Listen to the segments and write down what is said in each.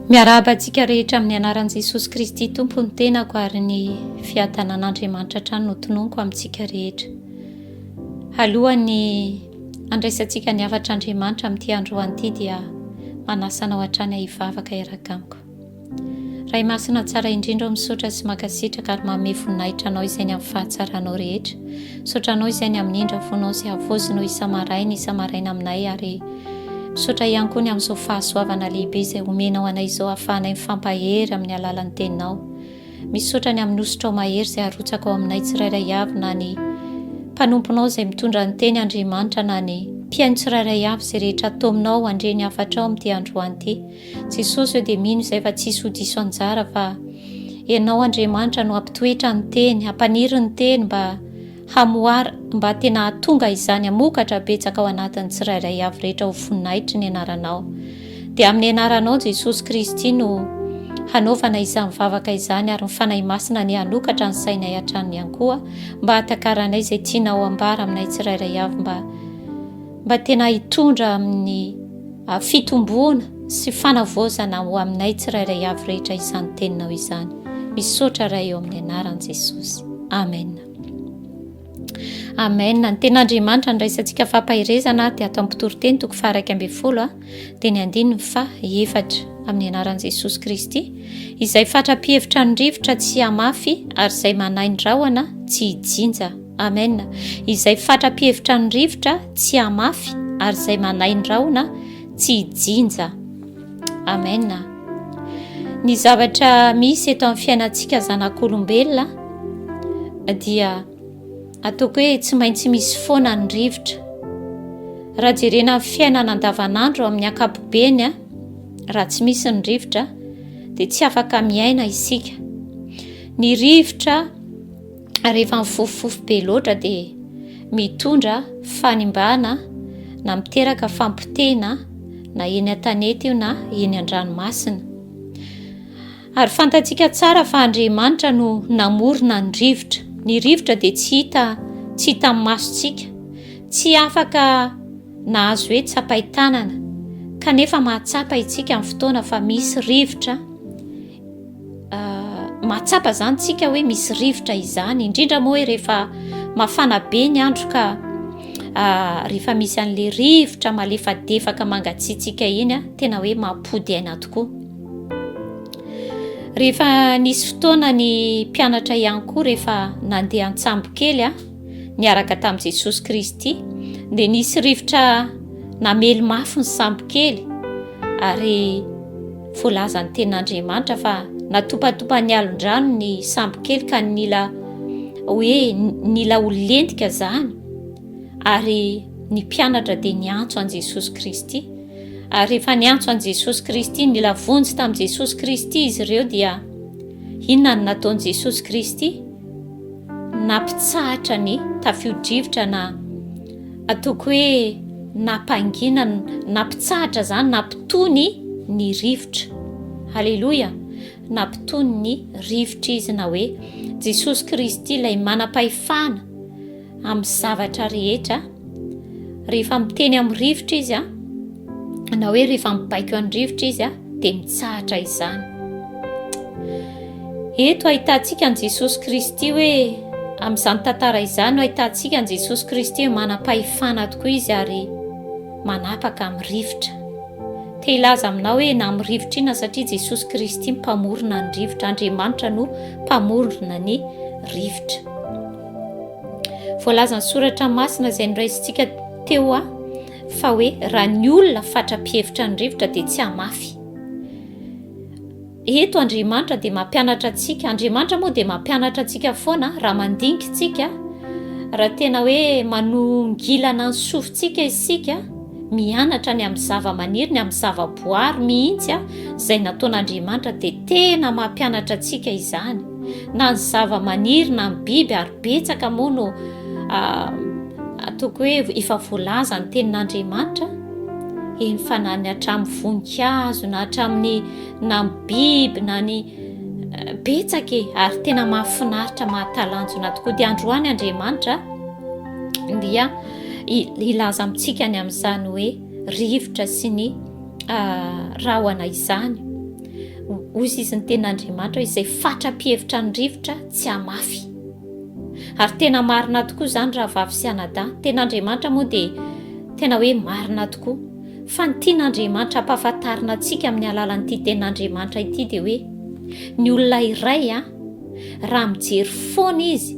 Miarahaba antsika rehetra amin'ny anaran'i Jesosy Kristy Tompo ny tenako ary ny fiadanan'Andriamanitra hatrany no tononiko amintsika rehetra. Alohan'ny andraisantsika ny hafatr'Andriamanitra amin'ity androany ity dia manasa anao hatrany ahivavaka hiaraka amiko. Ray masina tsara indrindra ao misaotra sy mankasitraka ary manome voninahitra anao izay ny amin'ny fahatsaranao rehetra. Misaotra anao izay ny amin'ny indra fonao sy havozinao isa-maraina isa-maraina aminay ary Misaotra ihany koa ny amin'izao fahasoavana lehibe izay omenao anay izao hahafahanay mifampahery amin'ny alalan'ny Teninao. Misaotra ny amin'ny hosotrao mahery izay arotsaka ao aminay tsirairay avy na ny mpanomponao izay mitondra ny teny Andriamanitra na ny mpihaino tsirairay avy izay rehetra ataominao handre ny hafatrao amin'ity androany ity. Jesosy eo dia mino izay fa tsy hisy ho diso anjara fa Ianao Andriamanitra no hampitoetra ny teny, hampaniry ny teny mba Hamohara, mba tena hahatonga izany hamokatra betsaka ao anatin'ny tsirairay avy rehetra ho voninahitry ny Anaranao. Dia amin'ny Anaranao Jesosy Kristy no hanaovana izany vavaka izany ary ny Fanahy Masina anie hanokatra ny sainay hatrany ihany koa mba hahatakaranay izay tianao hambara aminay tsirairay avy mba mba tena hitondra amin'ny fitomboana sy fanavaozana ho aminay tsirairay avy rehetra izany Teninao izany. Misaotra Ray eo amin'ny Anaran'i Jesosy. Amen. Amen. Ny ten'Andriamanitra andraisantsika fampaherezana dia ato amin'ny mpitoriteny toko faha iraika ambin'ny folo dia ny andininy faha efatra amin'ny anaran'i Jesosy Kristy izay fatra-pihevitra ny rivotra tsy hamafy ary izay manahy ny rahona tsy hijinja. Amen. Izay fatra-pihevitra ny rivotra tsy hamafy ary izay manahy ny rahona tsy hijinja. Amen. Ny zavatra misy eto amin'ny fiainantsika zanak'olombelona dia ataoko hoe tsy maintsy misy foana ny rivotra. Raha jerena ny fiainana andavanandro amin'ny ankapobeny, raha tsy misy ny rivotra dia tsy afaka miaina isika. Ny rivotra rehefa mifofofofo be loatra dia mitondra fanimbana na miteraka fampotehina na eny an-tanety io na eny an-dranomasina. Ary fantatsika tsara fa Andriamanitra no namorona ny rivotra. Ny rivotra dia tsy hita tsy hita amin'ny masontsika, tsy afaka nahazo hoe tsapain-tanana, kanefa mahatsapa isika amin'ny fotoana fa misy rivotra. Mahatsapa izany tsika hoe misy rivotra izany, indrindra moa hoe rehefa mafana be ny andro ka rehefa misy an'ilay rivotra malefadefaka mangatsiatsiaka iny a, tena hoe mampody aina tokoa. Rehefa nisy fotoana ny mpianatra ihany koa rehefa nandeha an-tsambo kely a. niaraka tamin'i Jesosy Kristy, dia nisy rivotra namely mafy ny sambokely ary voalazan'ny tenin'Andriamanitra fa natopatopan'ny alondrano ny sambokely ka nila hoe nila ho lentika izany ary ny mpianatra dia niantso an'i Jesosy Kristy ary rehefa niantso an'i Jesosy Kristy nila vonjy tamin'i Jesosy Kristy izy ireo dia inona no nataon'i Jesosy Kristy nampitsahatra ny tafio-drivotra na ataoko hoe nampangina, nampitsahatra izany, nampitony ny rivotra. Haleloia! Nampitony ny rivotra izy na hoe Jesosy Kristy ilay manam-pahefana amin'ny zavatra rehetra. Rehefa miteny amin'ny rivotra izy, na hoe rehefa mibaiko an'ny rivotra izy, dia mitsahatra izany. Eto ahitantsika an'i Jesosy Kristy hoe amin'izany tantara izany no ahitantsika an'i Jesosy Kristy hoe manam-pahefana tokoa izy ary manapaka amin'ny rivotra. Te hilaza aminao hoe na amin'ny rivotra inona satria Jesosy Kristy mpamorona ny rivotra, Andriamanitra no mpamorona ny rivotra. Voalazan'ny soratra masina izay noraisintsika teo a fa hoe raha ny olona fatra-pihevitra ny rivotra dia tsy hamafy. Eto Andriamanitra dia mampianatra antsika, Andriamanitra moa dia mampianatra antsika foana raha mandinkintsika, raha tena hoe manongilana ny sofintsika isika, Mianatra ny amin'ny zavamaniry, ny amin'ny zavaboary mihitsy aho, izay nataon'Andriamanitra, dia tena mampianatra antsika izany. Na ny zavamaniry na ny biby, ary betsaka moa no ataoko hoe efa voalaza ny tenin'Andriamanitra, eny fa na ny hatramin'ny voninkazo, na hatramin'ny na ny biby, na ny betsaka e, ary tena mahafinaritra, mahatalanjona tokoa. Dia androany Andriamanitra dia hilaza amintsika ny amin'izany hoe rivotra sy ny rahona izany ozy izy ny tena andriamanitra hoe izay fatra-pihevitra ny rivotra tsy hamafy ary tena marina tokoa izany raha vavy sy anadahy tena andriamanitra moa dia tena hoe marina tokoa fa ny tiana andriamanitra ampahafantarina antsika amin'ny alalan'ity tena andriamanitra ity dia hoe ny olona iray a ah, raha mijery foana izy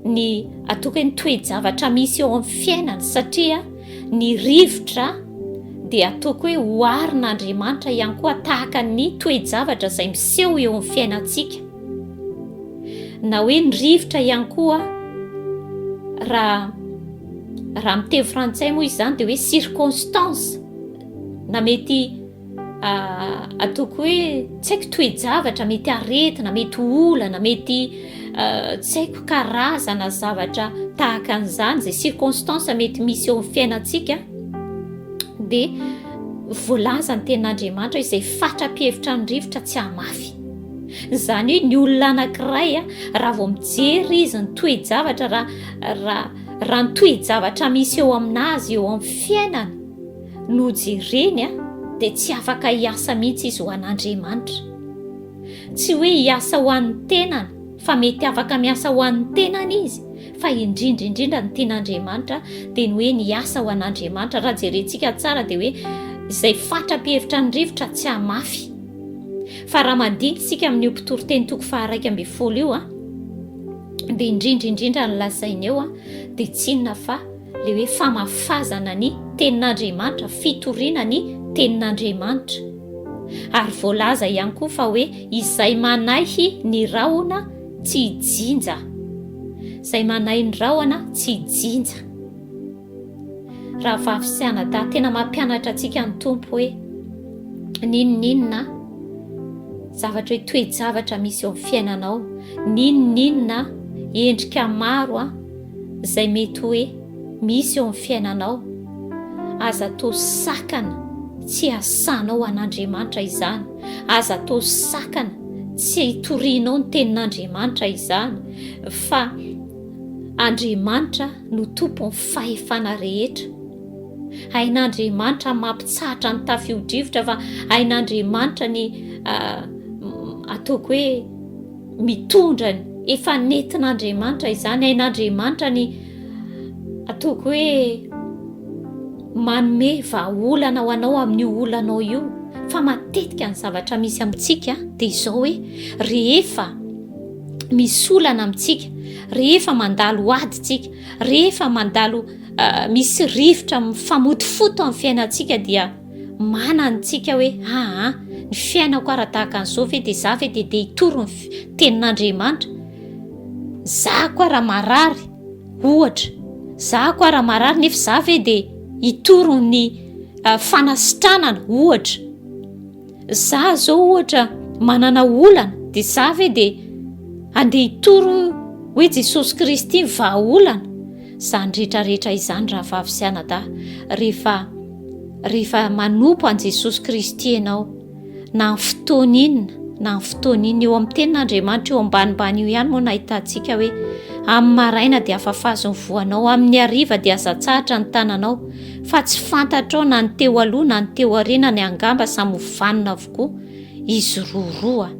ny atoka ny toe-javatra misy eo amin'ny fiainany satria ny rivotra dia atoko hoe hoarin'andriamanitra ihany koa tahaka ny toe-javatra izay miseho eo amin'ny fiainantsika na hoe ny rivotra ihany koa raha raha miteny frantsay moa izany dia hoe circonstance na mety Ataoko hoe tsy haiko toe-javatra mety aretina, mety olana, mety tsy haiko karazana zavatra tahaka an'izany izay circonstance mety misy eo amin'ny fiainantsika dia voalaza ny tenin'Andriamanitra izay fatra-pihevitra ny rivotra tsy hamafy izany hoe ny olona anankiray a raha vao mijery izy ny toe-javatra raha raha raha ny toe-javatra misy eo amin'azy eo amin'ny fiainany no jereny dia tsy afaka hiasa mihitsy izy ho an'Andriamanitra. Tsy hoe hiasa ho an'ny tenany fa mety afaka miasa ho an'ny tenany izy fa indrindra indrindra ny tian'Andriamanitra dia ny hoe ny hiasa ho an'Andriamanitra. Raha jerentsika tsara dia hoe izay fatra-pihevitra ny rivotra tsy hamafy. Fa raha mandinika isika amin'io mpitoriteny toko faharaika ambin'ny folo io dia indrindra indrindra ny lazainy eo dia tsinona fa Ilay hoe famafazana ny Tenin'Andriamanitra, fitoriana ny Tenin'Andriamanitra. Ary voalaza ihany koa fa hoe izay manaihy ny rahona tsy hijinja. Izay manaihy ny rahona tsy hijinja. Rahavavy sy anadahy, tena mampianatra antsika ny Tompo hoe n'inon'inona zavatra hoe toe-javatra misy eo amin'ny fiainanao, n'inon'inona endrika maro izay mety hoe misy eo amin'ny fiainanao, aza atao sakana tsy hasahanao an'Andriamanitra izany, aza atao sakana tsy hitorianao ny tenin'Andriamanitra izany, fa Andriamanitra no tompon'ny fahefana rehetra. Hain'Andriamanitra mampitsahatra ny tafiodrivotra, fa hain'Andriamanitra ny ah, ataoko hoe mitondra ny efa netin'Andriamanitra izany ain'Andriamanitra ny ataoko hoe manome vahaolana ho anao amin'io olanao io fa matetika ny zavatra misy amintsika dia izao hoe rehefa misy olana amintsika rehefa mandalo adintsika rehefa mandalo ah, misy rivotra mifamotofoto amin'ny fiainantsika dia Mana ny tsika hoe aa ny fiainako ara tahaka an'izao ve dia za ve dia dia hitory ny tenin'Andriamanitra za koa raha marary ohatra za koa raha marary nefa za ve dia hitory ny ah, fanasitranana ohatra Za zao ohatra manana olana dia za ve dia andeha hitory hoe Jesosy Kristy ny vahaolana? Zany retraretra izany rahavavy sy anadahy rehefa rehefa manompo an'i Jesosy Kristy ianao na amin'ny fotoana inona na amin'ny fotoana inona eo amin'ny tenin'Andriamanitra eo ambanimbany io ihany moa nahitantsika hoe amin'ny maraina dia afafazo ny voanao amin'ny hariva dia azatsahatra ny tananao fa tsy fantatrao na ny teo aloha na ny teo arenany angamba samy ho vanona avokoa izy roroa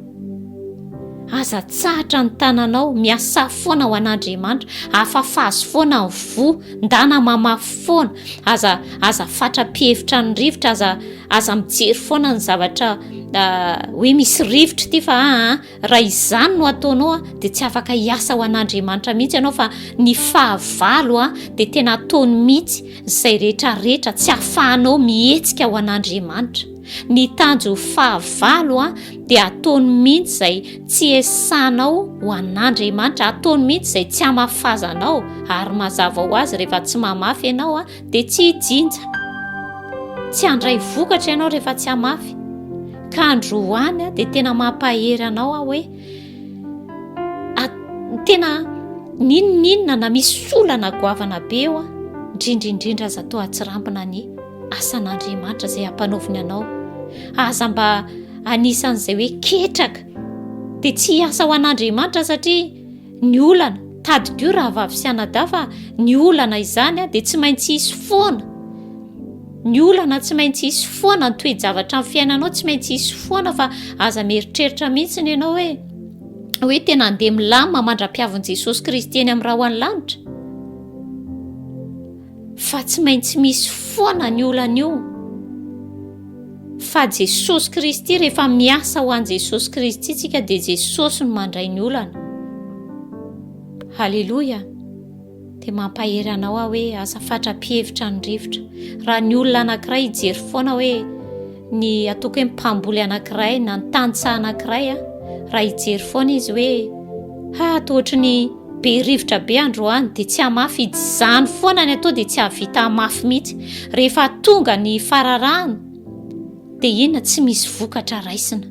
aza tsahatra ny tananao miasa foana ho an'andriamanitra afafazy foana ny voa ndana mamafy foana aza aza fatra pihevitra ny rivotra aza aza mijery foana ny zavatra ah, hoe misy rivotra ity fa aa ah, Raha izany no ataonao dia tsy afaka hiasa ho an'Andriamanitra mihitsy ianao fa ny fahavalo dia tena ataony mihitsy izay rehetra rehetra tsy afahanao mihetsika ho an'Andriamanitra. Ny tanjo fahavalo dia ataony mihitsy izay tsy esanao ho an'Andriamanitra, ataony mihitsy izay tsy hamafazanao ary mazava ho azy rehefa tsy mamafy ianao dia tsy hijinja tsy handray vokatra ianao rehefa tsy hamafy ka androany a dia tena mampahery anao aho hoe tena ninoninona na misy solana goavana be eo a indrindrindrindra aza to atsirambina ny asan'andriamanitra izay hampanaoviny anao aza mba anisan'izay hoe ketraka dia tsy hiasa ho an'andriamanitra satria ny olana, tadidio rahavavy sy anadahy fa ny olana izany dia tsy maintsy hisy foana, ny olana tsy maintsy hisy foana, ny toe-javatra amin'ny fiainanao tsy maintsy hisy foana fa aza mieritreritra mihitsy ny ianao hoe hoe tena andeha milamina mandra-piavin'i Jesosy Kristy eny amin'ny rahona lanitra. fa tsy maintsy misy foana ny olana io fa jesosy kristy rehefa miasa ho an' jesosy kristy tsika dia jesosy no mandray ny olana haleloia dia mampahery anao aho hoe aza fatra-pihevitra ny rivotra raha ny olona anankiray hijery foana hoe Ny ataoko hoe mpamboly anankiray na ny tantsaha anankiray a, raha hijery foana izy hoe ha toa ohatry ny be rivotra be androany dia tsy hamafy izany foana ny atao dia tsy hahavita hamafy mihitsy. Rehefa tonga ny fararano dia inona tsy misy vokatra raisina.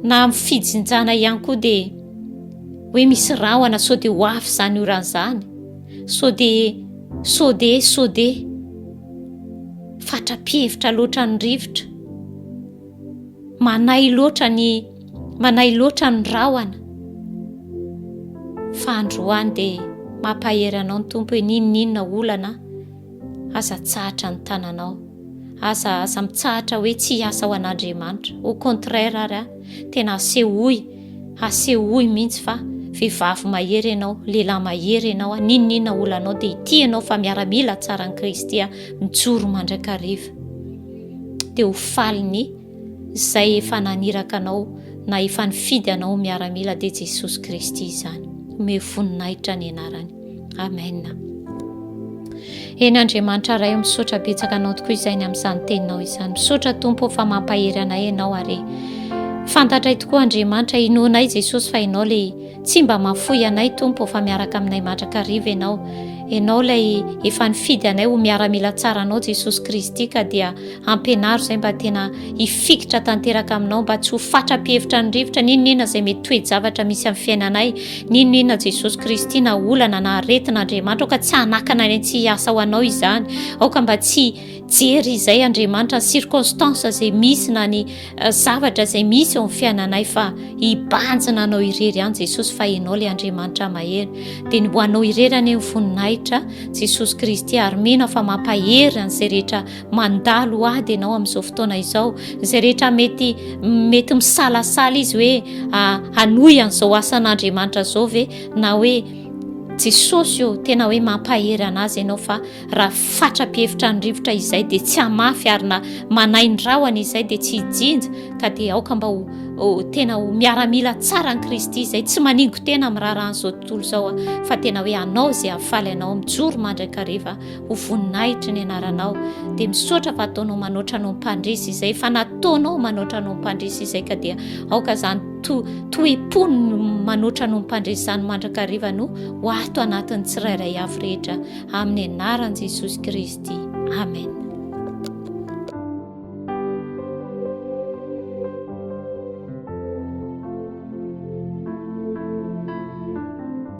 Na amin'ny fijinjana ihany koa dia hoe misy rahona sao dia ho avy izany orana izany, sao dia sao dia sao dia Fatra-pihevitra loatra ny rivotra. Manahy loatra ny manahy loatra ny rahona. Fa androany dia mampahery anao ny Tompo hoe n'inon'inona olana aza tsahatra ny tananao. Aza aza mitsahatra hoe tsy hiasa ho an'Andriamanitra. Au contraire ary tena asehoy Hasehoy mihintsy fa vehivavy mahery ianao, lehilahy mahery ianao a, n'inon'inona olanao dia ity ianao fa miaramila tsaran'i Kristy a, mijoro mandrakariva. Dia ho falin'ny izay efa naniraka anao na efa nifidy anao ho miaramila dia Jesosy Kristy izany. Omeo voninahitra ny anarany. Amen. Eny Andriamanitra Ray misaotra betsaka anao tokoa izay ny amin'izany teninao izany. Misaotra Tompo fa mampahery anay ianao ary fantatray tokoa Andriamanitra inoanay Jesosy fa ianao le tsy mba mafoy anay Tompo fa miaraka aminay mandrakariva ianao. Ianao ilay efa nifidy anay ho miaramila tsara anao Jesosy Kristy ka dia ampianaro izay mba tena hifikitra tanteraka aminao mba tsy ho fatra-pihevitra ny rivotra n'inon'inona izay mety toe-javatra misy amin'ny fiainanay N'inon'inona Jesosy Kristy na olana na aretina Andriamanitra aoka tsy hanakana ny tsy hiasa ho anao izany aoka mba tsy jery izay Andriamanitra ny circonstance izay misy na ny eh, zavatra izay misy eo amin'ny fiainanay fa hibanjina anao irery ihany Jesosy fa ianao ilay Andriamanitra mahery dia ny ho anao irery anie ny voninahitra Jesosy Kristy ary mino fa mampahery an'izay rehetra mandalo ady ianao amin'izao fotoana izao izay rehetra mety mety misalasala izy hoe ah, hanohy an'izao asan'andriamanitra izao ve na hoe jesosy eo tena hoe mampahery an'azy ianao fa raha fatra-pihevitra ny rivotra izay dia tsy hamafy ary na manainy rahona izay dia tsy hijinja ka dia aoka mba ho tena ho miaramila tsara ny kristy izay tsy maningo tena miraharaha an'izao tontolo izao a fa tena hoe anao izay hafaly anao mijoro mandrakariva ho voninahitry ny anaranao dia misaotra fa ataonao manoatra anao mpandresy izay fa nataonao manoatra anao mpandresy izay ka dia aoka izany to toepony manoatra anao mpandresy izany mandrakarivanao ho ato anatin'ny tsirairay avy rehetra amin'ny anaran'i jesosy kristy amen